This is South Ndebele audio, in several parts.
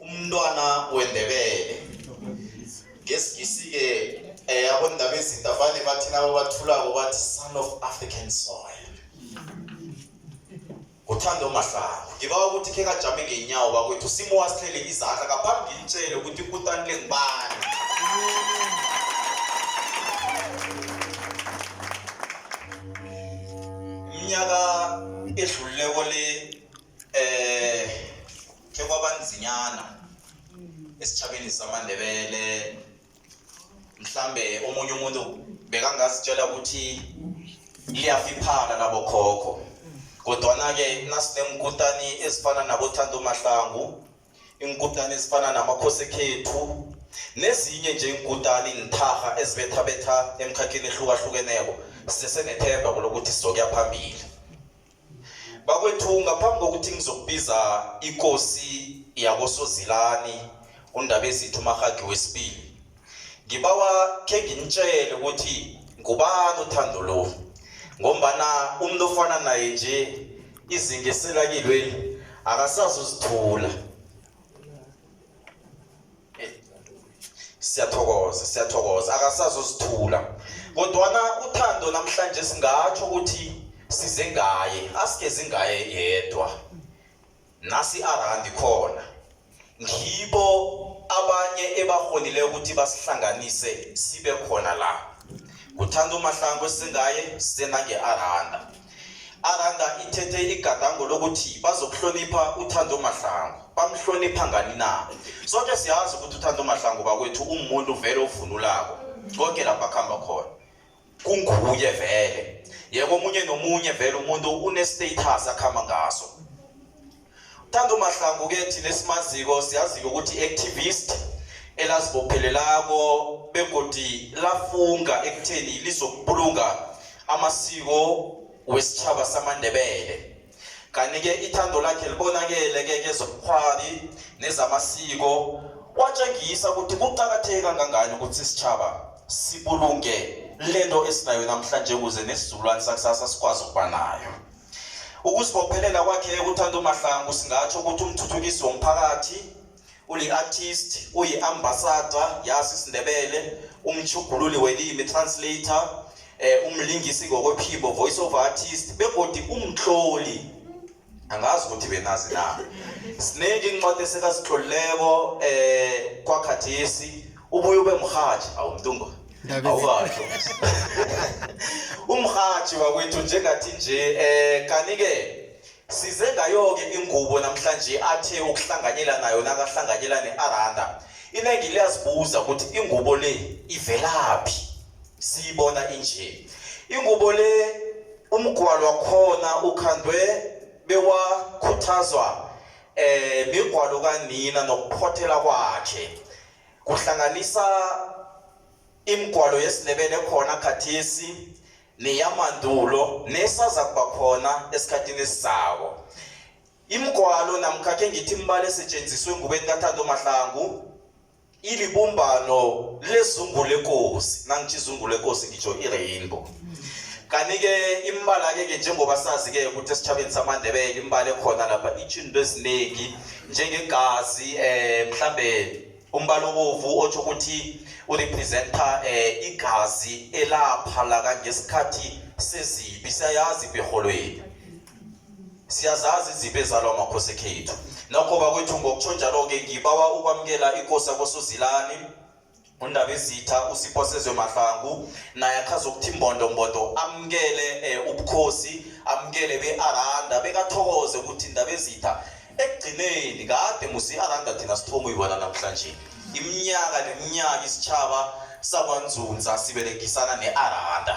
umntwana wendebele ngesingisi-ke um eh, abondaba ezinto avane bathi nabo bathulako bathi son of african soil uthando mahlangu ngibawa ukuthi khe kajame ngenyawo bakwethu simo wasihlele izandla ngaphambi ngitshele ukuthi ikutani le ngibani iminyaka edlululeko le um khe kwabanzinyana esitjhabeni samandebele mhlambe omunye umuntu bekangazitshela ukuthi liyafiphala labokhokho kodwana-ke nasinenkutani ezifana nabothando mahlangu inkutani ezifana namakhosi ekhethu nezinye nje inkutani nitharha ezibethabetha emkhakheni ehlukahlukeneko sisesenethemba kulokuthi sizokuya phambili bakwethu ngaphambi kokuthi ngizokubiza ikosi yakosozilani undabezithu umahagi wesibili ngibawa khe nginitshele ukuthi ngubani uthando lo ngombana umuntu ofana naye nje izinga eselakilweli akasazi uzithula siyathokoza siyathokoza akasazosithula kodwana uthando namhlanje singatsho ukuthi size ngaye asigezi ngaye yedwa nasi arandi khona ngibo abanye ebahonile ukuthi basihlanganise sibe khona la kuthanda umahlango singaye senange aranda aranda ithethe igadango lokuthi bazokuhlonipha uthando mahlangu bamhlonipha ngani na soke siyazi ukuthi uthando mahlangu bakwethu umuntu vele ovunulako konke lapho akuhamba khona kunguye vele yeke omunye nomunye vele umuntu une-status akuhamba ngaso Thando Mahlangu ke thina esimaziko siyazi ukuthi activist elazibophelelako begodi lafunga ekutheni lizokubulunga amasiko wesitjhaba samaNdebele kanike ithando lakhe libonakele ke kezobukhwari nezamasiko watshengisa ukuthi kuqakatheke kangangani ukuthi isitjhaba sibulunge lento esinayo namhlanje ukuze nesizukulwane sakusasa sikwazi ukuba nayo Ukuzibophelela kwakhe ekuthanda uMahlangu singatsho ukuthi umthuthukisi womphakathi uli-artist uyi-ambassador yasi isindebele umtshugululi welimi translator eh umlingisi ngokwephimbo voice of artist begodi umtloli angazi ukuthi benazi na siningi incwadi esekasitlolileko eh kwakhathesi ubuye ube mrhatshi awumntungwa awukasho umrhatshi wakwethu njengathi nje um kanike size ngayo-ke ingubo namhlanje athe ukuhlanganyela nayo nakahlanganyela ne-aranda iningi liyazibuza ukuthi ingubo le ivelaphi siyibona inje ingubo le umgwalo wakhona ukhandwe bewakhuthazwa eh migwalo kanina nokuphothela kwakhe kuhlanganisa imigwalo yesiNdebele khona khathesi neyamandulo nesaza kuba khona esikhathini esizako imigwalo namkhakhe ngithi imbala esetshenziswe ngubeni kathando mahlangu ilibumbano lezungu lekosi nangithi izungu lekosi ngitsho i-rainbow kanti-ke imbala-ke ke njengoba sazi-ke ukuthi esitshabeni samandebele imbala ekhona lapha itsho into eziningi njengegazi um eh, mhlambe umbala obovu otsho ukuthi urepresenta um eh, igazi elapha la kangesikhathi sezibi siyayazi ibirholweni siyazazi izipho ezalwa amakhosi ekhethu nokho bakwethu ngokutsho njalo-ke ngibawa ukwamukela ikosi yakosuzilani undaba izitha usiphosezwe mahlangu naye akhaza ukuthi imbondombondo amukele um ubukhosi amukele be-aranda bekathokoze ukuthi indaba ezitha ekugcineni kade musi i-aranda thina sithoma uyibona namhlanje iminyaka neminyaka isitshaba sakwanzunza siberegisana ne-aranda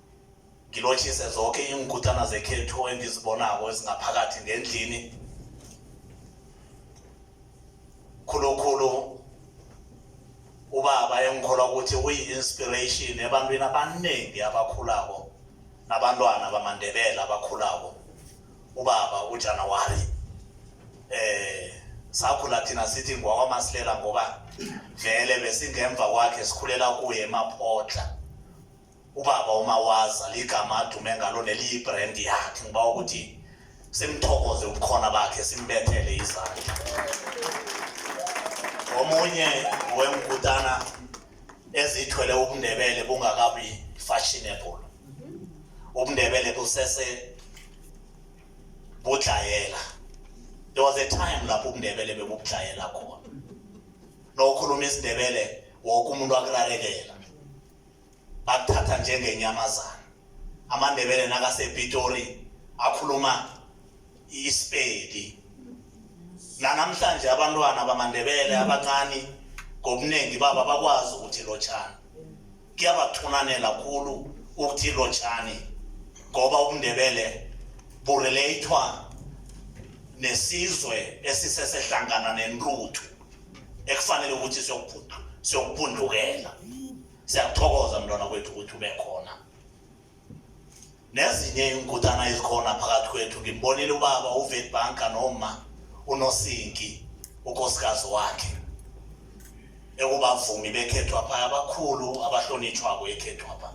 ngilotshise zonke iinkutana zekhethu engizibonako ezingaphakathi ngendlini khulukhulu ubaba engikholwa ukuthi uyi-inspiration ebantwini abaningi abakhulako nabantwana bamandebela abakhulako ubaba ujanawari eh sakhula thina sithi ngwakwamasilela ngoba vele besingemva kwakhe sikhulela kuye emaphotla ubaba umawaza ligama adume ngalo neliyibrand yakhe ngiba ukuthi simthokoze ubukhona bakhe simbethele izandla omunye wengutana ezithwele ubundebele bungakabi fashionable ubundebele busese budlayela there was a time lapho ubundebele bebubudlayela khona nokhuluma isindebele woke umuntu akurarekela bakuthatha njengenyamazana amandebele nakasepitori akhuluma isipedi nanamhlanje abantwana bamandebele abancane ngobuningi baba bakwazi ukuthi lotshani kuyabathunanela khulu ukuthi lotshani ngoba ubundebele bureleyithwa nesizwe esisesehlangana nenruthu ekufanele ukuthi siyokuphundukela siyakuthokoza mntwana kwethu ukuthi ube khona nezinye iinkutana ezikhona phakathi kwethu ngimbonile ubaba uvetbanka noma unosinki unkosikazi wakhe ekubavumi bekhethwapha abakhulu abahlonitshwako ekhethwapha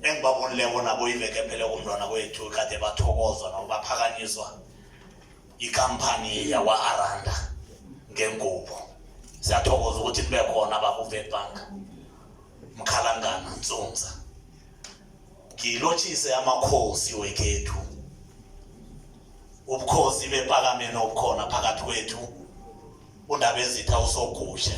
engibabonileko nabo iveke phele kumntwana kwethu kade bathokozwa nabo baphakanyiswa ikampani yakwa-aranda ngengubo siyathokoza ukuthi nibe khona bakuvebank mkhalangana ntsonza ngilotshise amakhosi wekhethu ubukhosi bepakameni obukhona phakathi kwethu undabezitha usogushe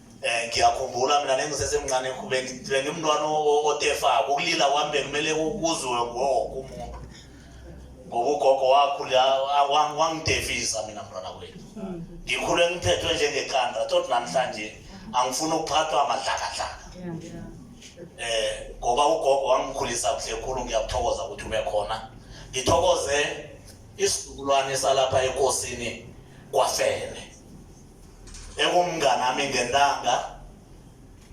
eh ngiyakhumbula mina nengisesemncane ekhubeni bengimntwana otefako ukulila kwami bekumele kuzwe woke umuntu ngoba ugogo wakhula wangidefisa mina mntwana kwethu ngikhule ngithethwe njengeqanda tot namhlanje angifuni ukuphathwa amadlakadlaka eh ngoba ugogo wangikhulisa kuhle khulu ngiyakuthokoza ukuthi ube khona ngithokoze isizukulwane salapha ekosini kwafele nekumnganami ngentanga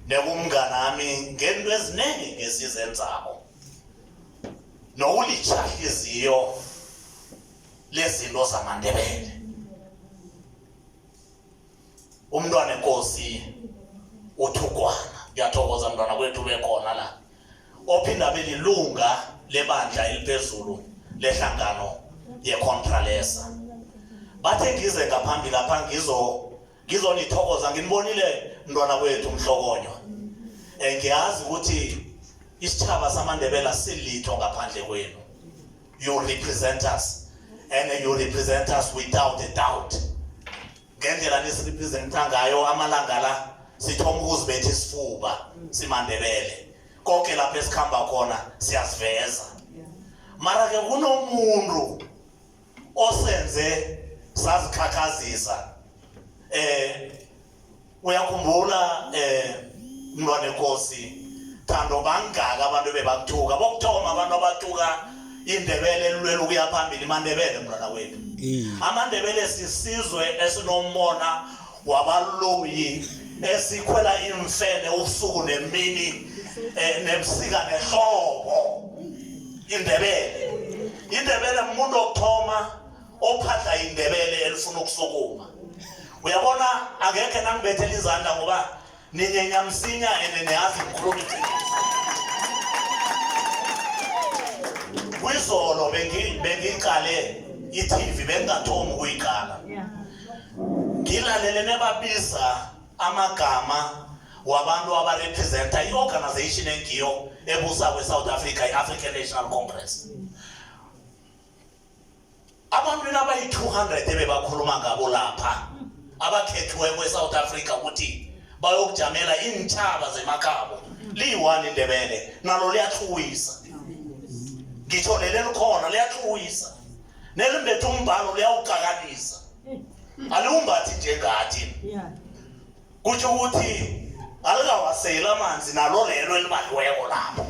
nekumnganami ngento eziningi ngesizenzako nowulitshahliziyo lezinto zamandebele umntwana enkosi uthugwana ngiyathokoza mntwana kwethu bekhona la ophinda abe lilunga lebandla eliphezulu lehlangano yecontralesa bathe ngize ngaphambi lapha ngizo ngizonithokoza nginibonile mntwana kwethu umhlokonywa um ngiyazi ukuthi isitshaba samandebela silitho ngaphandle kwenu you represent us and you represent us without a doubt ngendlela nisirepresenta ngayo amalanga la sithoma ukuzibetha isifuba simandebele konke lapho esikhamba khona siyasiveza mara ke kunomuntu osenze sazikhakhazisa eh uyakhumbula eh mntwana enkosi thando bangaka abantu bebakuthuka bokuthoma abantu abatuka indebele elulwela ukuya phambili imandebele mntwana wethu amandebele sisizwe esinombona wabaloyi esikhwela imfene ubusuku nemini eh, nebusika nehlobo indebele indebele muntu okuthoma ophadla indebele elifuna ukusukuma uyabona akekhe nangibethela izandla ngoba ni nyenyamsinya eneneazi mkhulumiti kwizolo bengiyiqale itv bengingathomi ukuyiqala ngilalele nebabiza amagama wabantu abarepresenta i-organization engiyo ebusa kwe-south africa i-african national congress mm. abantu abayi-200 ebebakhuluma ngabo lapha abakhethiweko e-south africa ukuthi bayokujamela iintshaba zemakhabo liyi-one indebele nalo liyathuwisa ngitho leli likhona liyathuwisa nelimbethe umbhalo liyawuqakanisa aliwumbathi njengathi yeah. kutho ukuthi alikawaseli amanzi nalo lelo elibaliweko lapho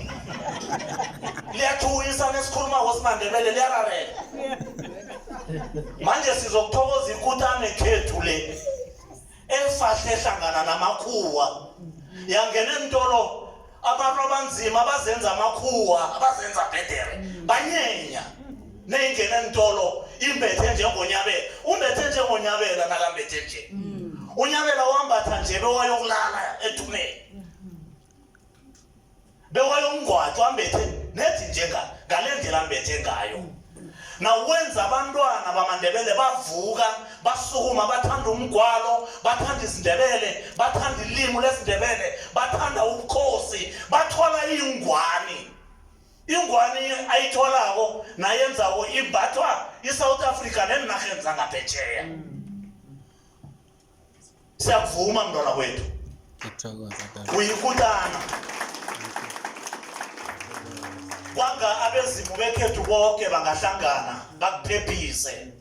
liyathuyisa nesikhuluma kosimandebele liyararela manje sizokuthokoza ikutane khethu le elifahle hlangana namakhuwa yangena entolo abantu abanzima abazenza amakhuwa abazenza bhedere mm. banyenya neyingena entolo imbethe njengonyabela umbethe njengonyabela nakambethe nje mm. unyabela wambatha nje bewayokulala ethumeni mm-hmm. bewayokungwathwa ambethe nethi njenga ngale ndlela ambethe ngayo mm. nawenza abantwana bamandebele bavuka basukuma bathanda umgwalo bathanda izindebele bathanda ilimu lesindebele bathanda ubukhosi bathola ingwani ingwani ayitholako nayenzako imbathwa i-south africa neenarheni zangaphetsheya mm. Siyakuvuma mntwana wethu. Uyikutana. Kwanga abezimu bekhethu bonke bangahlangana bakuphephise.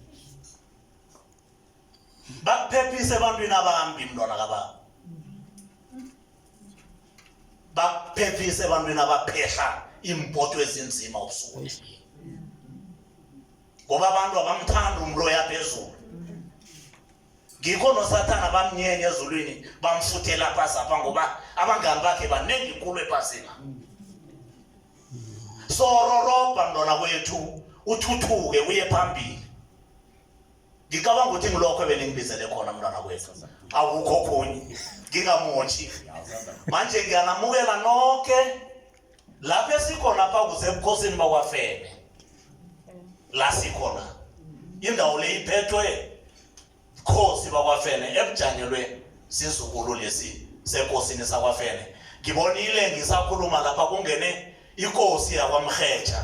Bakuphephise ebantwini abambi mntwana kababa. Bakuphephise ebantwini abaphehla iimpoto ezinzima ubusuku. Ngoba abantu abamthanda umloya phezulu. ngikho nosathana bamnyenye ezulwini bamfuthela phasi apha ngoba abangani bakhe baningi kulo ephasina so rorobha mntwana kwethu uthuthuke uye phambili ngicabanga ukuthi ngilokho ebelingibizele khona mntwana kwethu akukho khunye ngingamotshi manje ngiyanamukela noke lapho esikhona pha kusebukhosini bakwafene la sikhona indawo le iphethwe bukhosi bakwafene ebujangelwe sizukulu lesi sekosini sakwafene ngibonile ngisakhuluma lapha kungene ikosi yakwamrhetsha